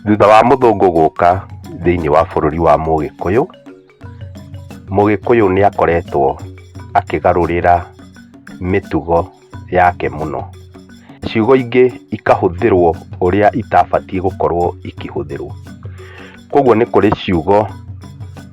Thutha wa mũthũngũ gũka thĩinĩ wa bũrũri wa mũgĩkũyũ, mũgĩkũyũ nĩ akoretwo akĩgarũrĩra mĩtugo yake mũno. Ciugo ingĩ ikahũthĩrwo ũrĩa itabatiĩ gũkorwo ikĩhũthĩrwo. Koguo nĩ kũrĩ ciugo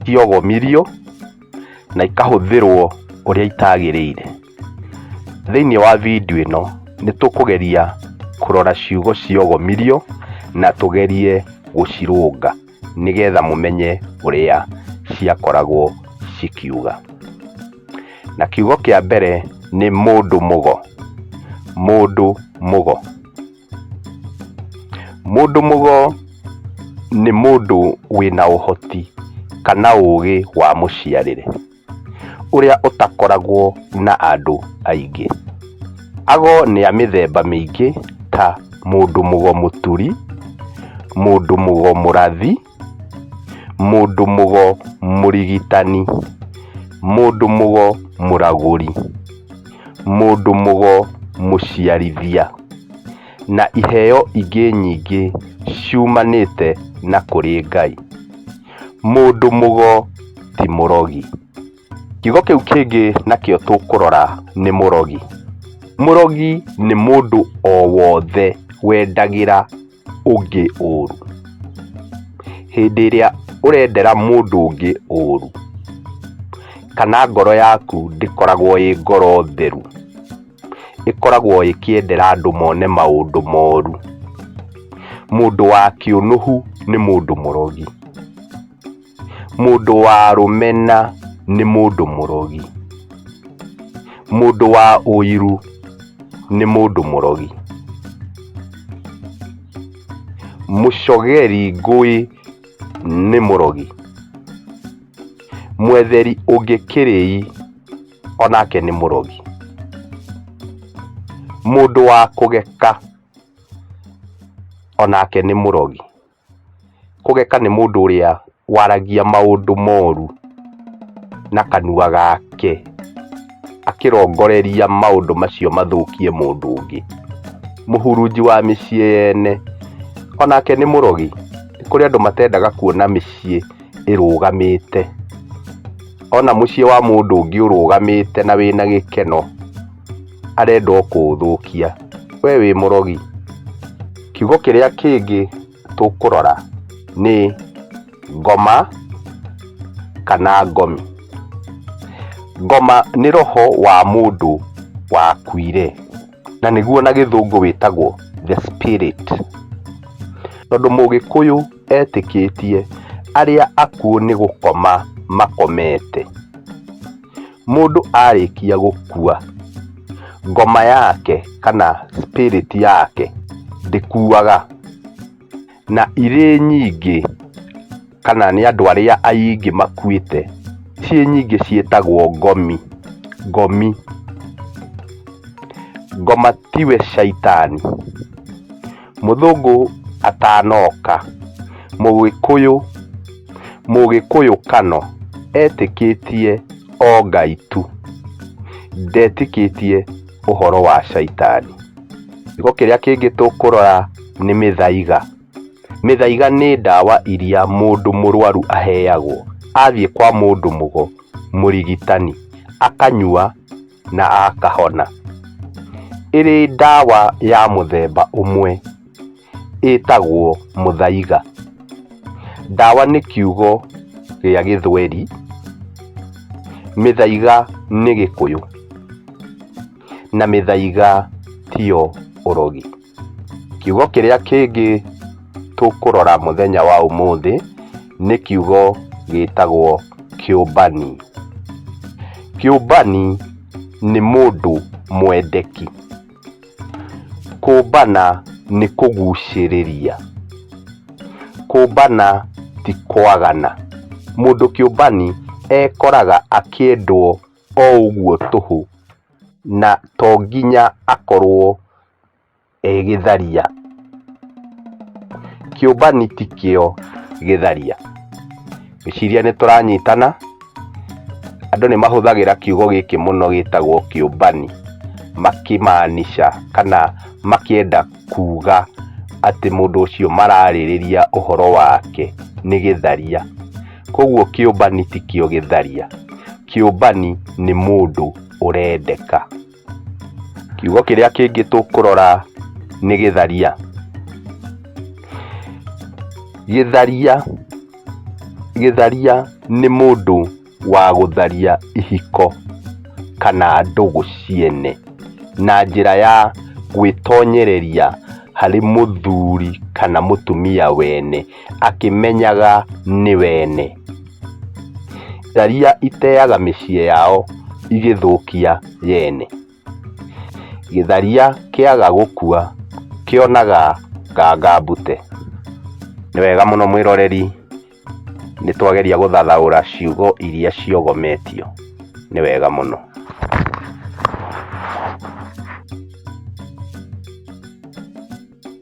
ciogomirio. na ikahũthĩrwo ũrĩa itagĩrĩire. Thĩinĩ wa video ĩno nĩ tũkũgeria kũrora ciugo cia ũgomirio na tũgerie gũcirũnga nĩgetha mũmenye ũrĩa ciakoragwo cikiuga. Na kiugo kĩa mbere nĩ mũndũ mũgo, mũndũ mũgo. Mũndũ mũgo nĩ mũndũ wĩna ũhoti kana ũgĩ wa mũciarĩre ũrĩa ũtakoragwo na andũ aingĩ. Ago nĩ a mĩthemba mĩingĩ ta mũndũ mũgo mũturi, mũndũ mũgo mũrathi. Mũndũ-mũgo mũrigitani. Mũndũ-mũgo mũragũri. Mũndũ-mũgo mũciarithia. Na iheo ingĩ nyingĩ ciumanĩte na kũrĩ Ngai. Mũndũ-mũgo ti mũrogi. Kiugo kĩu kĩngĩ nakĩo tũkũrora nĩ mũrogi. Mũrogi nĩ mũndũ o wothe wendagĩra ũngĩ ũru. Hĩndĩ ĩrĩa ũrendera mũndũ ũngĩ ũru, kana ngoro yaku ndĩkoragwo ĩ ngoro theru, ĩkoragwo ĩkĩendera andũ mone maũndũ moru. Mũndũ wa kĩũnũhu nĩ mũndũ mũrogi. Mũndũ wa rũmena nĩ mũndũ mũrogi. Mũndũ wa ũiru nĩ mũndũ mũrogi. Mũcogeri ngũĩ nĩ mũrogi. Mwetheri ũngĩ kĩrĩi o nake nĩ mũrogi. Mũndũ wa kũgeka o nake nĩ mũrogi. Kũgeka nĩ mũndũ ũrĩa waragia maũndũ moru na kanua gake akĩrongoreria maũndũ macio mathũkie mũndũ ũngĩ. Mũhurunji wa mĩciĩ yene onake nĩ mũrogi. Nĩ kũrĩ andũ matendaga kuona mĩciĩ ĩrũgamĩte. Ona mũciĩ wa mũndũ ũngĩ ũrũgamĩte na wĩna gĩkeno. arenda o kũũthũkia. We wĩ mũrogi. Kiugo kĩrĩa kĩngĩ tũkũrora nĩ ngoma kana ngomi. Ngoma nĩ roho wa mũndũ wakuire na nĩguo na gĩthũngũ wĩtagwo the spirit. Tondũ mũgĩkũyũ etĩkĩtie arĩa akuũ nĩ gũkoma makomete. Mũndũ arĩkia gũkua, ngoma yake kana spirit yake ndĩkuaga. Na irĩ nyingĩ kana nĩ andũ arĩa aingĩ makuĩte, ciĩ nyingĩ ciĩtagwo ngomi, ngomi. Ngoma tiwe caitani. mũthũngũ atanoka, mũgĩkũyũ, mũgĩkũyũ kano etĩkĩtie o Ngai tu, ndetĩkĩtie ũhoro wa caitani. Gĩko kĩrĩa kĩngĩ tũkũrora nĩ mĩthaiga, mĩthaiga nĩ ndawa iria mũndũ mũrwaru aheagwo athiĩ kwa mũndũ mũgo, mũrigitani, akanyua. na akahona. Ĩrĩ ndawa ya mũthemba ũmwe ĩtagwo mũthaiga. Ndawa nĩ kiugo gĩa gĩthweri, mĩthaiga nĩ gĩkũyũ, na mĩthaiga tiyo ũrogi. Kiugo kĩrĩa kĩngĩ tũkũrora mũthenya wa ũmũthĩ nĩ kiugo gĩtagwo kĩũmbani. Kĩũmbani nĩ mũndũ mwendeki. Kũmbana nĩ kũgucĩrĩria. Kũmbana ti kwagana. Mũndũ kĩũmbani ekoraga akĩendwo o ũguo tũhũ na to nginya akorwo e gĩtharia kĩũmbani ti kĩo gĩtharia ngĩciria nĩ tũranyitana andũ nĩ mahũthagĩra kiugo gĩkĩ mũno gĩtagwo kĩũmbani makĩmaanisha kana makĩenda kuuga atĩ mũndũ ũcio mararĩrĩria ũhoro wake nĩ gĩtharia koguo kĩũmbani ti kĩo gĩtharia kĩũmbani nĩ mũndũ ũrendeka. Kiugo kĩrĩa kĩngĩ tũkũrora nĩ gĩtharia. Gĩtharia, gĩtharia nĩ mũndũ wa gũtharia ihiko kana ndũgũ ciene na njĩra ya gwĩtonyereria harĩ mũthuri kana mũtumia wene. akĩmenyaga nĩ wene. Tharia iteaga mĩciĩ yao igĩthũkia yene. Gĩtharia kĩaga gũkua kĩonaga nganga mbute. Nĩ wega mũno mwĩroreri nĩ twageria gũthathaũra ciugo iria ciogometio. Nĩ wega mũno.